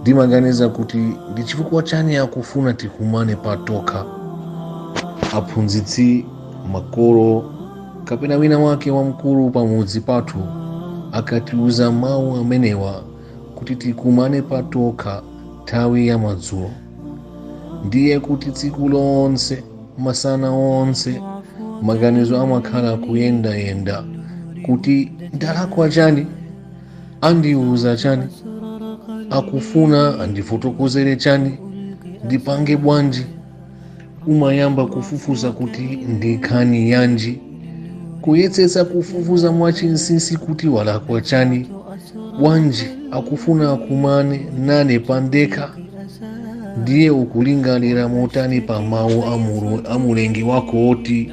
ndimaganiza kuti ndi chifukwa chani akufuna tikumane patokha aphunzitsi makolo kapena wina wake wamkulu pamudzi pathu akatiuza mawu amenewa kuti tikumane patokha nthawi ya madzulo ndiye kuti tsiku lonse masana onse maganizo amakhala kuyendayenda kuti ndalakwa chani andiuza chani akufuna andifotokozere chani ndipange bwanji umayamba kufufuza kuti ndi nkhani yanji kuyesetsa kufufuza mwachinsinsi kuti walakwa chani bwanji akufuna akumane nane pandekha ndiye ukulingalira motani pa mawu a Mulengi wako oti